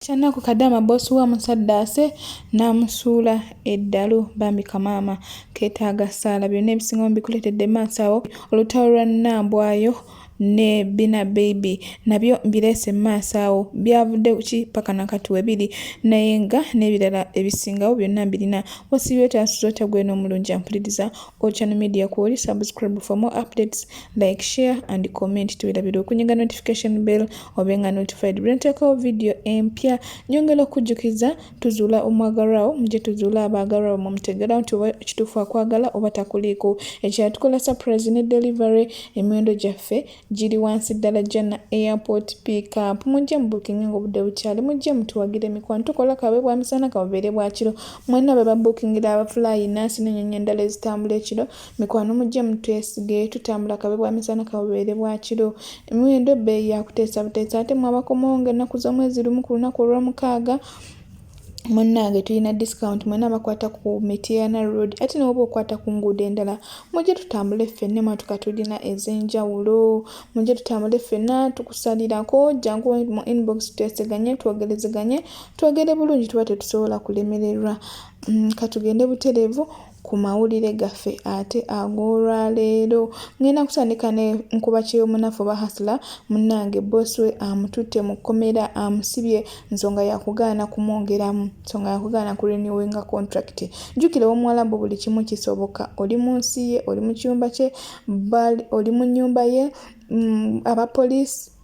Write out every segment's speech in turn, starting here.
Kyanaku kadama boss wa musaddaase n'amusuula eddalu bambi kamaama keetaaga ssaala byonna ebisinga mbikuleetedde maaso awo olutalo lwa Nambwayo ne Bina Baby nabyo mbireese mu maaso awo byavudde ki paka na kati we biri naye nga n'ebirala ebisingawo byonna mbirina wasiibye otya nsuza otya gweno omulungi ampuliriza Ocean Media Kwoli subscribe for more updates like share and comment tubirabira okunyiga notification bell obe nga notified bwenteekawo video empya nyongera okujjukiza tuzuula omwagalwawo muje tuzuula abaagalwawo mumutegerawo nti oba kituufu akwagala oba takuliiko ekyatukola surprise ne delivery emiwendo gyaffe giri wansi ddala jana airport pickup mujje mubukinge ngaobudde bukyali mujje mutuwagire emikwano tukola kabe bwa misana kabubeere bwa kiro mwena bwe babukingira abafulaayi nansi nenyonyi endala ezitambula ekiro mikwano mujje mutwesige tutambula kabe bwa misana kabubeere bwa kiro emiwendo ebbeeyi yakuteesa buteesa ate mwabakomawo nga ennaku z'omwezi lumu ku lunaku olwomukaaga munnange tulina discount mwena abakwata ku mitiana road ate newoba okwata ku nguudo endala mujje tutambule ffenna emmotoka tulina ez'enjawulo mujje tutambule ffenna tukusalirako jangu mu inbox tweseganye twogerezeganye twogere bulungi tuba tetusobola kulemererwa mm, katugende butereevu ku mawulire gaffe ate ag'olwaleero ngenda kutandika ne nkuba kyeyomunafu oba hasula munnange boss we amututte mu kkomera amusibye nsonga yakugaana kumwongeramu nsonga yakugaana ku renewinga contract jjukira omuwalabu buli kimu kisoboka oli mu nsi ye oli mu kiyumba kye oli mu nnyumba ye mm, abapoliisi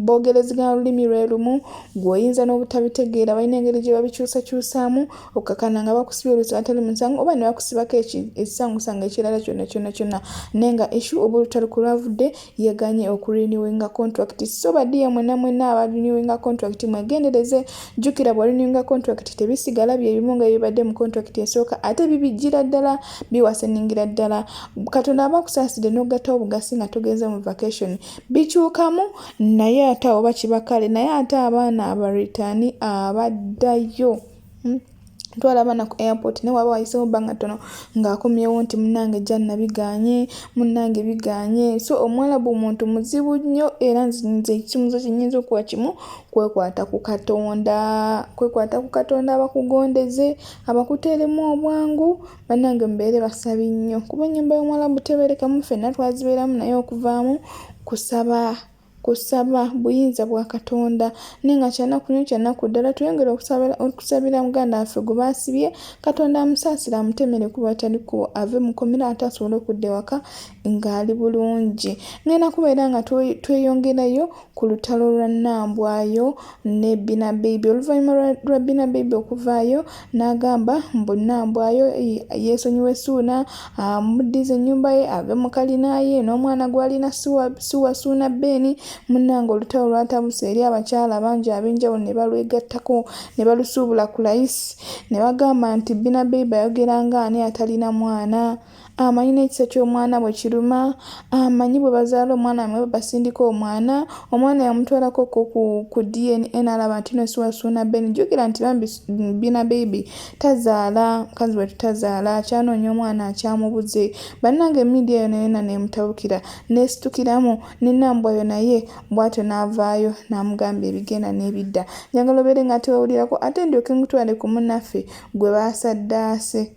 boogerezegana lulimi lwe lumu gw'oyinza n'obutabitegeera balina engeri gye babikyusakyusaamu okukakana nga bakusibye olusango atali musango oba ne bakusibako ekisangosango ekirala kyonna kyonna kyonna naye nga eshu oba olutalo ku lwavudde yeganye okuriniwinga contract so badiya mwena mwena abariniwinga contract mwegendereze jjukira bwariniwinga contract tebisigala bye bimu nga bibadde mu contract esooka ate bibijjira ddala biwaseningira ddala katonda aba akusaasidde n'ogattawo obugasi nga togenze mu vacation bikyukamu naye ate oba kiba kale naye ate abaana abaritani abaddayo hmm? twala abaana ku airport naye waba wayisewo bbanga ttono ng'akomyewo nti munange janna biganye munange biganye so omuwalabu muntu muzibu nnyo era nze ekimuzo kyenyinza okuwa kimu kwekwata ku katonda kwekwata ku katonda abakugondeze abakuteeremu obwangu bannange mubeere basabi nnyo kuba ennyumba y'omuwalabu tebeerekamu ffenna twazibeeramu naye okuvaamu kusaba kusaba buyinza bwa katonda naye nga kyanaku nyo kyanaku ddala tuyongere okusabira muganda waffe gwe baasibye katonda amusaasire amutemere kuba tali kubo ave mukomera ate asobole okudda ewaka ng'ali bulungi ngenda kubeera nga tweyongerayo ku lutalo lwa nambwayo ne bina beibi oluvannyuma lwa bina beibi okuvaayo n'agamba mbu nambwayo yeesonyiwa essuuna amuddiza ennyumba ye ave mu kalina ye n'omwana gw'alina siwa suuna beeni munnanga olutalo lwatabusa eri abakyala bangi ab'enjawulo ne balwegattako ne balusuubula ku layisi ne bagamba nti bina beibi ayogera ng'ani atalina mwana amanyi n'ekisa ky'omwana bwe kiruma amanyi bwe bazaala omwana mwe basindika omwana omwana yamutwalako ko ku dna n'alaba nti no siwasuuna ben jjukira nti bambi bina bebi tazaala mukazi we tutazaala akyanoonya omwana akyamubuze bannange emidia yona yona neemutabukira neesitukiramu nenambwayo naye bwatyo n'avaayo n'amugamba ebigenda n'ebidda njagala obeere nga tewawulirako ate ndyoke nkutwale ku munaffe gwe baasaddaase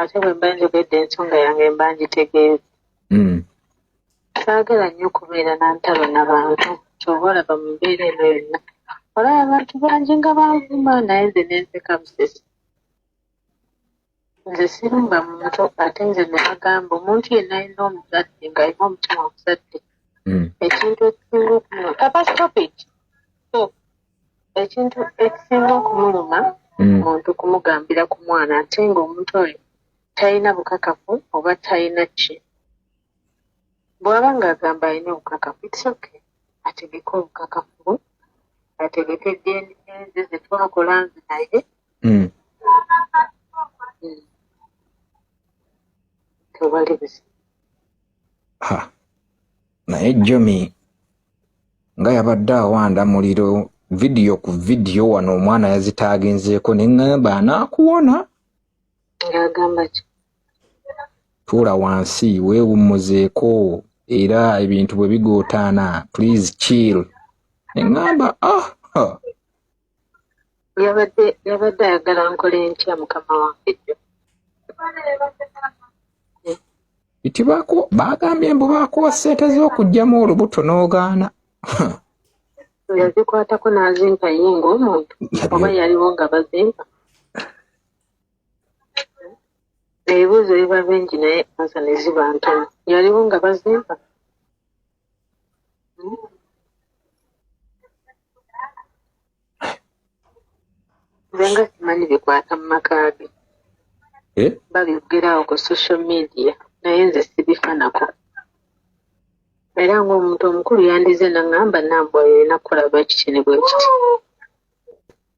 ate bwe mba njogedde ensonga yange mba ngitegeeza hmm. saagala nnyo okubeera na ntalo na bantu kyoba olaba mu mbeera eno yonna olaba abantu bangi nga banvuma naye nze nenseka busesi nze sirumba muntu ate nze nebagamba omuntu yenna alina omuzadde ng'alina omutima omuzadde hmm. ekintu ekisinga okunyo kapa stopit ekintu ekisinga okumuluma mm. muntu kumugambira ku mwana ate ng'omuntu oyo talina bukakafu oba talina ki bw'aba ng'agamba alina obukakafu itsoke ategeke obukakafu bwe ategeke dna ze ze twakola nze naye mm. mm. tewali buzibu naye jomi nga yabadde awanda muliro vidiyo ku vidiyo wano omwana yazitaaginzeeko ne ŋŋamba anaakuwona tuula wansi weewummuzeeko era ebintu bwe bigootaana please chill ne ŋŋamba ah, ah. yabadde yabadde ayagala nkola entya mukama wange jjo nti baagambye mbu baakuwa ssente z'okuggyamu olubuto n'ogaana yazikwatako n'azimpa ye ng'omuntu oba yaliwo nga bazimpa ebibuuzo biba bingi naye ansa ne ziba ntono yaliwo nga bazimpa nga simanyi bikwata mu maka ge eh? babyogerawo ku social media naye nze sibifanako era ng'omuntu omukulu yandize naŋŋamba nambwa yolina kukola bwe kiti ne bwe kiti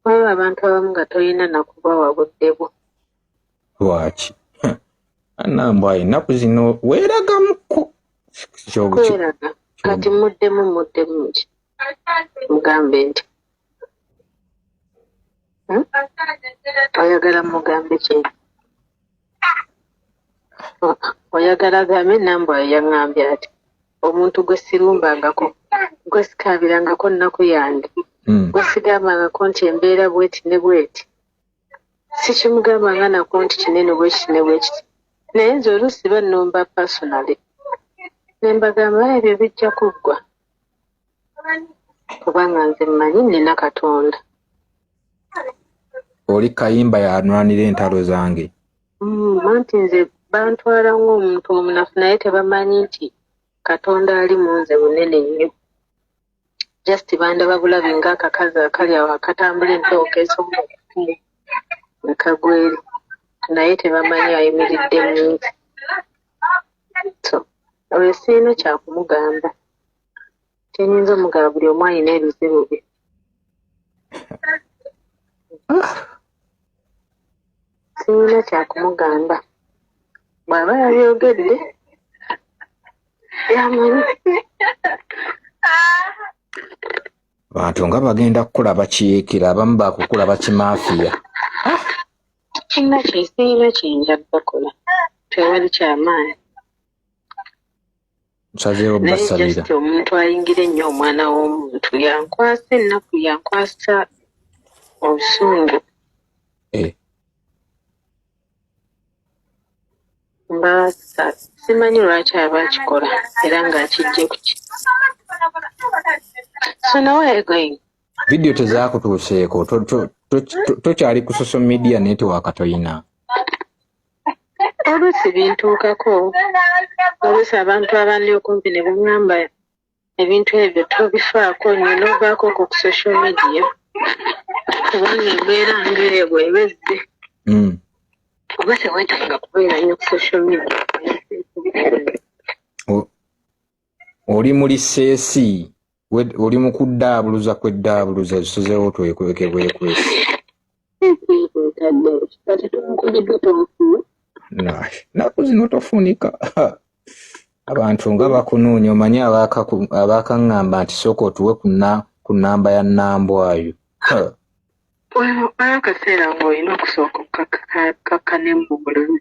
waliwo abantu abamu nga tolina nakubawa budde bwo lwaki anambwa ennaku zino weeragamuko kweraga kati muddemu muddemu ki mugambe nti hmm? oyagala mugambe ki oyagala gambe nambwa yayaŋambye ati omuntu gwe sirumbangako gwe sikaabirangako nnaku yange hmm. gwe sigambangako nti embeera bweti ne bweti sikimugamba nga nako nti kinene bwekiti ne bwekiti naye nze oluusi bannumba personally ne mbagamba ebyo bijja kuggwa kubanga nze mmanyi nnina katonda oli kayimba yanwanira entalo zange mm, anti nze bantwala ng'omuntu omunafu naye tebamanyi nti katonda ali mu nze munene nnyo just bandaba bulabi nga akakazi akali awo akatambula empewo kesonga okukumu ne kagweri naye tebamanyi ayimiridde munsi so oyo sirina kyakumugamba kyenyinza omugaba buli omu alina ebizibu bye sirina kyakumugamba bw'aba yabyogedde bantu nga bagenda kukula bakiikira abamu bakukula bakimafiya kinna kyesiina kyenja bakola tewali kyamaani nsazeewo basalira omuntu ayingira ennyo omwana w'omuntu yankwasa ennaku yankwasa obusungu eh. Maasa simanyi lwaki aba akikola era ng'akijje kuki so now where are you going vidiyo tezaakutuuseeko tokyali ku social media network toyina oluusi bintuukako oluusi abantu abandi okumpi ne bangamba Ebintu ebyo tobifaako nnyo n'ovaako okwo ku social media kubanga embeera ng'eyo bw'eba ezze hmm. oba teweetaaga kubeera nnyo ku social media oli mu liseesi oli mu kuddaabuluza kweddaabuluza esuzeewo twekweke bwekwesi naku zino tofunika abantu nga bakunoonya omanyi abakaŋŋamba nti sooka otuwe ku namba ya nambwayo waliwo akaseera ng'olina okusooka okukakkanemu mu bulumi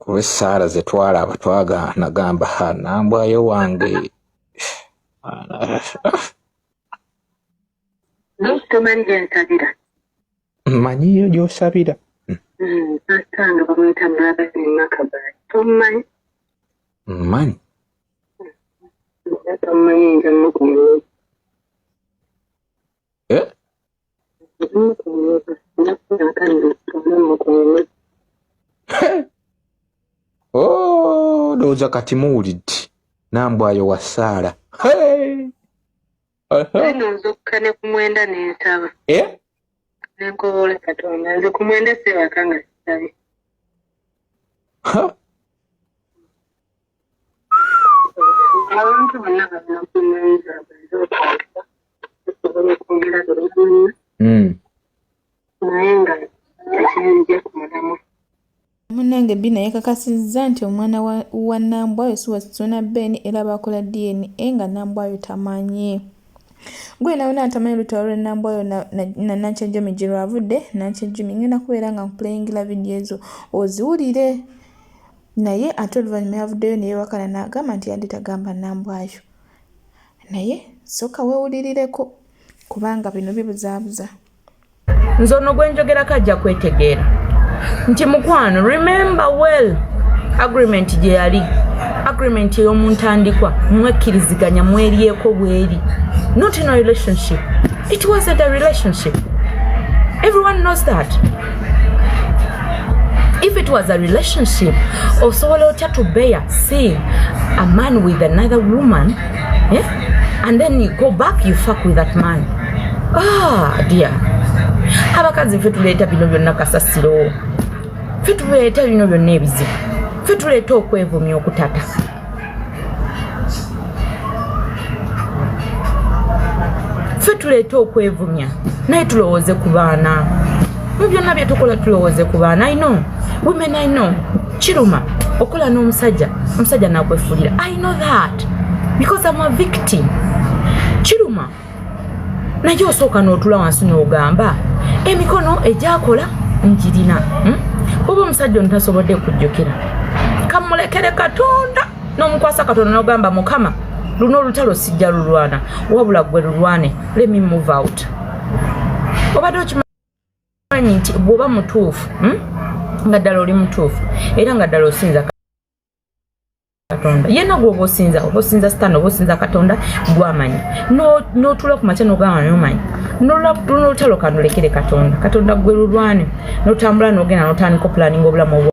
kuba essaala ze twalaba twagaana gamba ha nambwayo wange tomanyi gyensabira manyiyo gyosabira asanga bamuyita mulabaemakabaa tomanyi manyi tomanyi njamukumu eh? Oh, ndowooza kati muwulidde nambwayo wa saala eno nzokka ne ku mwenda nensaba eh? nenkobola katonda nze ku mwenda sebaka nga sisabye abantu bonna balina kunayiza bwezokwagala tusobola okwongera bebamanyi hmm. naye nga ekinzija ku mulamwa munange bi naye kakasizza nti omwana wa nambwayo si wasituna ben era bakola dna nga nambwayo tamanyi gwe nawe natamanyi lutalo lwenambwayo nanankyejumi gyerwavudde nankyejumi ngenda kubeera nga nkupuleyingila vidiyo ezo oziwulire naye ate oluvannyuma yavuddeyo ne yeewakana n'agamba nti yadde tagamba Nambwayo naye sooka weewulirireko kubanga bino bibuzaabuza. Nze ono gwe njogerako ajja kwetegeera nti mukwano remember well agreement gye yali agreement ey'omu ntandikwa mwekkiriziganya mweryeko bweri not in a relationship it wasn't a relationship everyone knows that if it was a relationship osobola otya to bear seeing a man with another woman eh? and then you go back you fuck with that man ah dear abakazi ffe tuleeta bino byonna kasasiro ffe tuleeta bino byonna ebizibu ffe tuleeta okwevumya okutata ffe tuleeta okwevumya naye tulowooze ku baana mu byonna bye tukola tulowooze ku baana i know women i know kiruma okola n'omusajja omusajja nakwefulira i know that because am a victim kiruma naye osooka n'otula wansi n'ogamba emikono egyakola njirina hmm? oba omusajja ono tasobodde kujjukira kamulekere katonda n'omukwasa katonda n'ogamba mukama luno olutalo sijja lulwana wabula gwe lulwane lemi move out obadde okimanyi nti bw'oba mutuufu hmm? nga ddala oli mutuufu era nga ddala osinza katonda yena gwoba osinza oba osinza sitani oba osinza katonda gwamanyi notula ku makya nogamba nomanyi nolutalo kanulekere katonda katonda gwe lulwane notambula nogenda notandika opulaninga obulamu obwo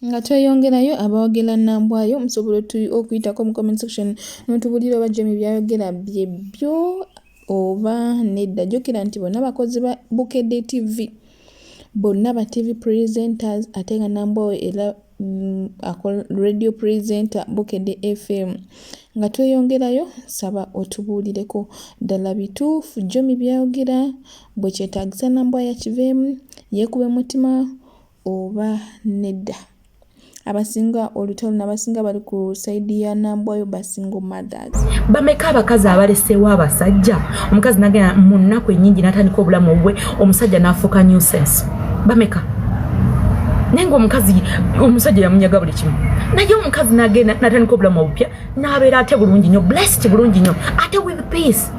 nga tweyongerayo abawagila nambwayo musobola okuyitako mu comment section notubulira oba jemi byayogera byebyo oba nedda jukira nti bonna bakozi ba bukedde tv bonna ba tv presenters ate nga nambwawo era mm, radio presenter bukedde fm nga tweyongerayo saba otubuulireko ddala bituufu jomi byayogera bwekyetagisa nambwa yakiveemu yekuba emutima oba nedda abasinga olutalo nabasinga bali ku saidi ya nambwayo basingo mothers bameka abakazi abaleseewo abasajja omukazi nagenda mu nnaku enyingi natandika obulamu obwe omusajja nafuuka nusense bameka naye ngaomukazi omusajja yamunyaga buli kimu naye omukazi nagenda natandika obulamu obupya n'abeera ate bulungi nnyo blessed bulungi nnyo ate with peace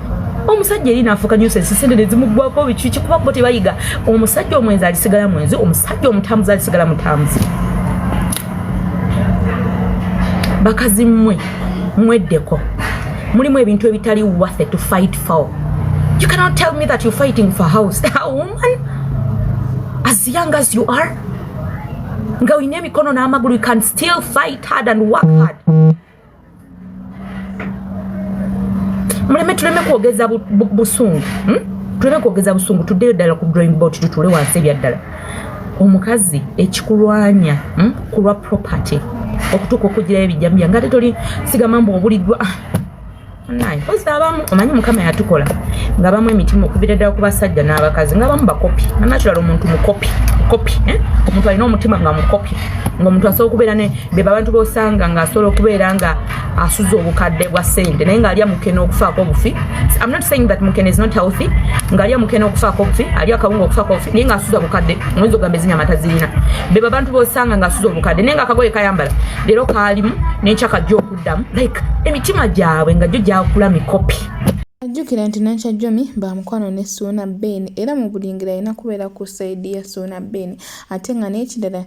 omusajja eri naafuuka nyusa ensisende ne zimuggwako bikiki kuba bo tebayiga omusajja omwenzi alisigala mwenzi omusajja omutambuzi alisigala mutambuzi bakazi mmwe mweddeko mulimu ebintu ebitali wathe to fight for you cannot tell me that you're fighting for house a woman as young as you are nga olina emikono n'amagulu you can still fight hard and work hard muleme tuleme kwogeza busungu hmm? tuleme kwogeza busungu tuddeyo ddala ku drawing board tutuule wansi ebyaddala omukazi ekikulwanya hmm? kulwa property okutuuka okugirayo ebijjambiya nga te toli sigamba mbu obuliddwa mpozi abamu omanyi mukama yatukola nga bamu emitima okubira ddala ku basajja n'abakazi nga bamu bakopi anakirala omuntu mukopi mukopi eh? omuntu alina omutima nga mukopi ngaomuntu asobola okubeera ne be babantu bosanga nga asobola okubeera nga asuza obukadde bwa sente naye ngaalya mukene okufaako obufi am not saying that mukene is not healthy ngaalya mukene okufaako obufi alya akabunga okufaako obufi naye ngaasuza obukadde omuyinza ogamba ezinyama tazirina be babantu bosanga nga asuza obukadde naye nga akagoye kayambala leero kaalimu nekyakajja oku damu like emitima gyabwe nga gyo gyakula mikopi ajjukira nti nankya jomi ba mukwano ne suuna ben era mu buli ngeri alina kubeera ku saidi ya suuna ben ate nga n'ekirala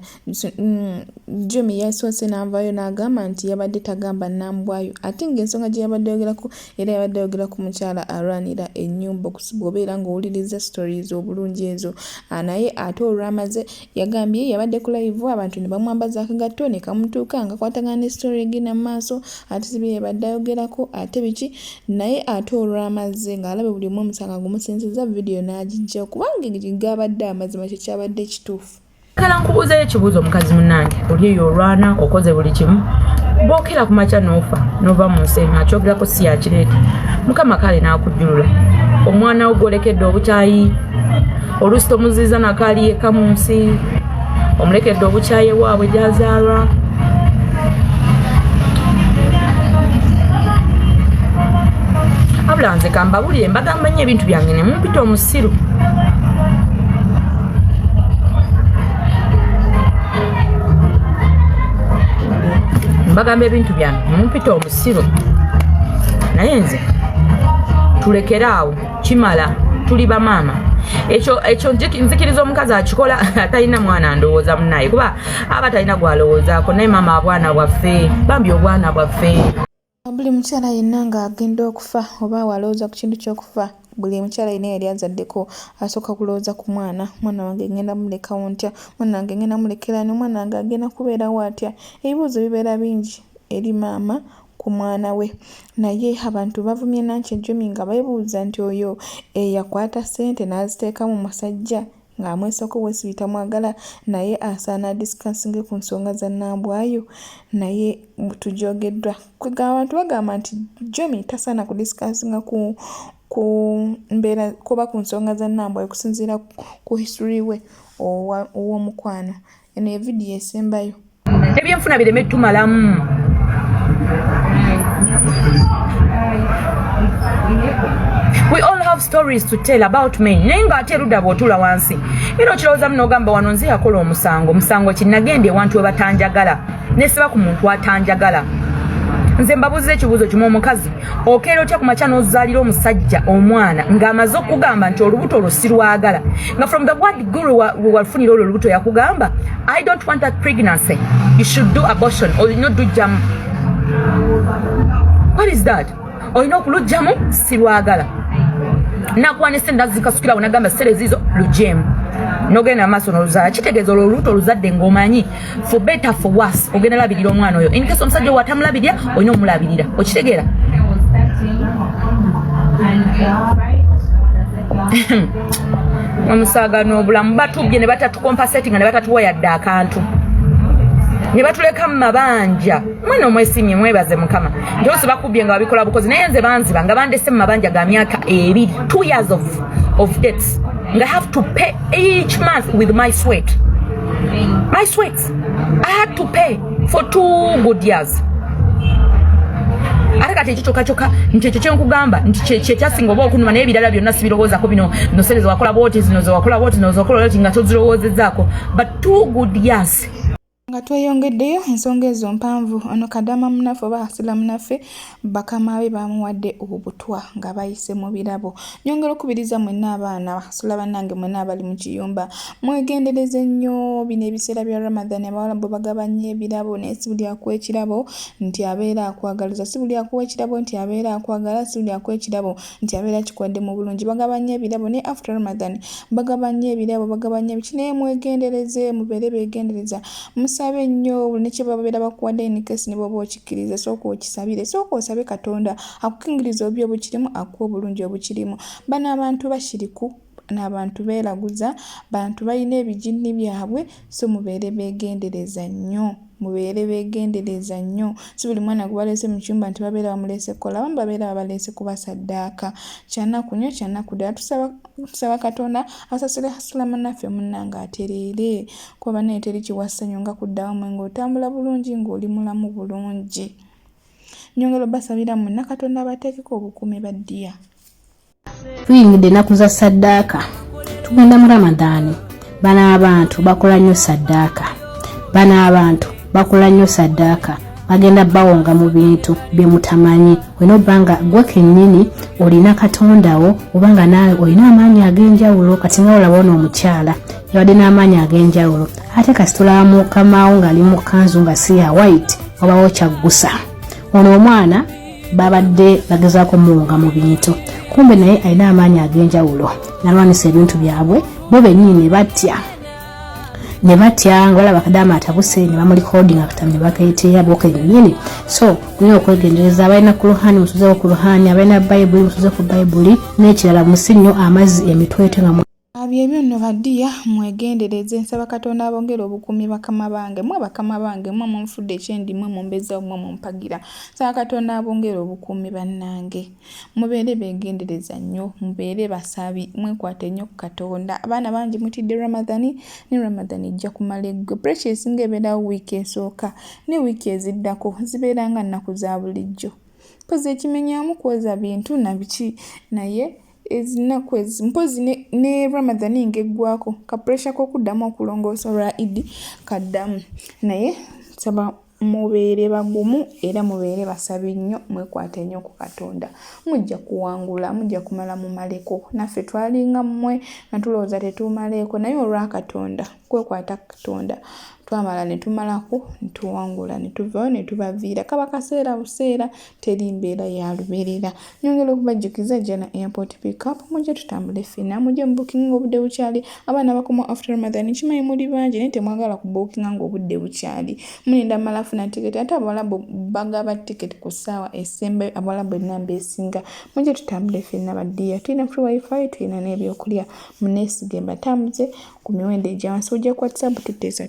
mm, jomi yasoose n'avaayo n'agamba nti yabadde tagamba nambwayo ate ng'ensonga gye yabadde yogerako era yabadde ayogera ku mukyala alwanira ennyumba okusiba obeera ng'owuliriza stories obulungi ezo naye ate olwamaze Yagambye yabadde ku layivu abantu ne bamwambaza akagatto ne kamutuuka nga kwatagana ne sitori egenda mu maaso ate si bye yabadde ayogerako ate biki naye ate olwamazze ng'alabye buli omu omusanga gumusinzizza vidiyo n'agijjawo kubanga gaabadde amazima kye kyabadde ekituufu kala nkubuuzayo ekibuuzo omukazi munange oli eyo olwana okoze buli kimu bwokera ku makya noofa nova mu nsi eno akyogerako si yakireeta mukama kale n'akujjulula omwana wo gwolekedde obukyayi oluusi tomuziiza nakaali yekka mu nsi omulekedde obukyaye waabwe gyazaalwa wabula nze kambabulire mbagamba nnyo ebintu byange ne mumpita omusiru mbagamba ebintu byange mumpita omusiru naye nze tulekere awo kimala tuli bamaama ekyo ekyo nzikiriza omukazi akikola atalina mwana ndowooza munaye kuba aba talina gwalowoozaako naye maama abwana bwaffe bambi obwana bwaffe buli mukyala yenna ng'agenda okufa oba awalowooza ku kintu ky'okufa buli mukyala yina yali azaddeko asooka kulowooza ku mwana mwana wange ngenda mulekawo ntya mwana wange ngenda mulekerani omwana wange agenda kubeerawo atya ebibuuzo bibeera bingi eri maama ku mwana we. Naye abantu bavumye Nankya Jummy nga bebuuza nti oyo eyakwata ssente n'aziteeka mu musajja ng'amwesako Wesley tamwagala naye asaana adisikasinge ku nsonga za Nambwayo naye tugyogeddwa. Kwegamba abantu bagamba nti Jummy tasaana kudisikasinga ku ku mbeera kuba ku nsonga za Nambwayo okusinziira ku history we ow'omukwano. eno ye vidiyo esembayo ebyenfuna bireme tumalamu we all have stories to tell about me naye nga ate erudda bwotula wansi era okirowoozamu n'ogamba wano nze yakola omusango omusango kinagenda ewantu webatanjagala nesiba ku muntu atanjagala nze mbabuuziza ekibuuzo kimu omukazi okeera otya ku makya n'ozaalira omusajja omwana ng'amaze okugamba nti olubuto olwo sirwagala nga from the word guru wewafunira olwo olubuto yakugamba i don't want that pregnancy you should do abortion olina odujjamu what is that olina okulujjamu sirwagala nakwanise ndazikasukirawo nagamba serezizo lujemu nogenda maaso noluzala kitegeeza olwo olubuto oluzadde ng'omanyi for better for worse ogenda labirira omwana oyo in case omusajja owo atamulabirira olina omulabirira okitegeera omusaaga n'obulamu batubbye ne batatukompasetinga ne batatuwa yadde akantu ne batuleka mu mabanja mwena omwesimye mwebaze mukama nti ose bakubbye nga babikola bukozi naye nze banziba nga bandese mu mabanja ga myaka ebiri two years of, of dates nga have to pay each month with my sweat my sweat i had to pay for two good years ate kati ekyo kyokka kyokka nti ekyo kyenkugamba nti kyekyasinga oba okunuma naye ebirala byonna sibirowoozako bino nosere zewakola bwoti zino zewakola bwoti zino zewakola bwoti nga tozirowoozezzaako but two good years nga tweyongeddeyo ensonga ezo mpanvu ono kadama munaffe oba asila munaffe bakama be bamuwadde obutwa nga bayise mu birabo nyongera okubiriza mwenna abaana basula bannange mwenna abali mu kiyumba mwegendereze nnyo bino ebiseera bya ramadhan abawala bwe bagaba nnyo ebirabo naye si buli akuwa ekirabo nti abeera akwagaliza si buli akuwa ekirabo nti abeera akwagala si buli akuwa ekirabo nti abeera akikwade mu bulungi bagaba nnyo ebirabo naye after Ramadan bagaba nnyo ebirabo bagaba nnyo biki naye mwegendereze mubeere begendereza musabe nnyo buli nekyebabeera bakuwadde in case ne bwoba okikkiriza sooka okisabire sooka osabe Katonda akukingirize obi obukirimu akuwa obulungi obukirimu bano abantu bashiriku nabantu belaguza bantu balina ebijinni byabwe so mubeere begendereza nnyo mubeere begendereza nnyo si buli mwana gwebaleese mu kiyumba nti babeera bamuleese kukola abamu babeera babaleese kubasaddaaka kyanaku nnyo kyanaku ddala tusaba tusaba katonda asasule hasula munaffe munnange atereere kuba banaye teri kiwassanyo nga kuddawo mwe ng'otambula bulungi ng'oli mulamu bulungi nyongera obasabira mwonna katonda abateekeko obukuumi baddiya tuyingidde ennaku za saddaaka tugenda mu ramadaani bano abantu bakola nnyo saddaaka bano abantu bakola nnyo saddaaka bagenda bawonga mu bintu bye mutamanyi olina obba nga gwe kennyini olina katondawo oba nga naawe olina amaanyi ag'enjawulo kati nga olaba ono omukyala yabadde n'amaanyi ag'enjawulo ate kasitulaba mukamawo ng'ali mu kanzu nga si ya white obawo kyaggusa ono omwana babadde bagezaako muwunga mu bintu kumbe naye alina amaanyi ag'enjawulo nalwanisa ebintu byabwe bo bennyini ne batya ne batya nga balaba kadaama atabuse ne bamulikodinga katamu ne bakeeteera bo kennyini so kulina okwegendereza abalina ku luhani musuzeeko ku luhani abalina bayibuli musuze ku bayibuli n'ekirala musi nnyo amazzi emitwete nga Ah, byebyo nno badiya mwegendereze nsaba katonda abongere obukuumi bakama bange mwe bakama bange mwe munfudde ekyendi mwe mumbezawo mwe mumpagira nsaba katonda abongere obukuumi bannange mubeere begendereza nnyo mubeere basabi mwekwate nnyo ku katonda abaana bangi mutidde ramadhani ne ramadhani ejja kumala eggwe puresha esinga ebeerawo wiiki esooka ne wiiki eziddako zibeera nga nnaku za bulijjo mpozi ekimenyamu kwoza bintu nabiki naye ezinnaku ezi mpozzi ne, ne ramadhani ng'eggwako ka puresha k'okuddamu okulongoosa olwa idi kaddamu naye nsaba mubeere bagumu era mubeere basabi nnyo mwekwate nnyo ku katonda mujja kuwangula mujja kumala mumaleko naffe twalinga mmwe nga tulowooza tetumaleeko naye olwa katonda kwekwata katonda twamala ne tumalako ne tuwangula ne tuvayo ne tubaviira kaba kaseera buseera teri mbeera ya lubeerera nyongera okubajjukiza jana airport pickup mujje tutambule ffena mujje mubukinga obudde bukyali abaana bakoma after ramadan kimanyi muli bangi naye temwagala kubukinga ngaobudde bukyali mulinda mala funa tiketi ate abawalabu bagaba tiketi ku ssaawa esembayo abawalabu enamba esinga mujje tutambule ffena baddiya tulina free wifi tulina n'ebyokulya munesigemba tambuze ku miwendo egyawansi ojja ku whatsapp tuteesa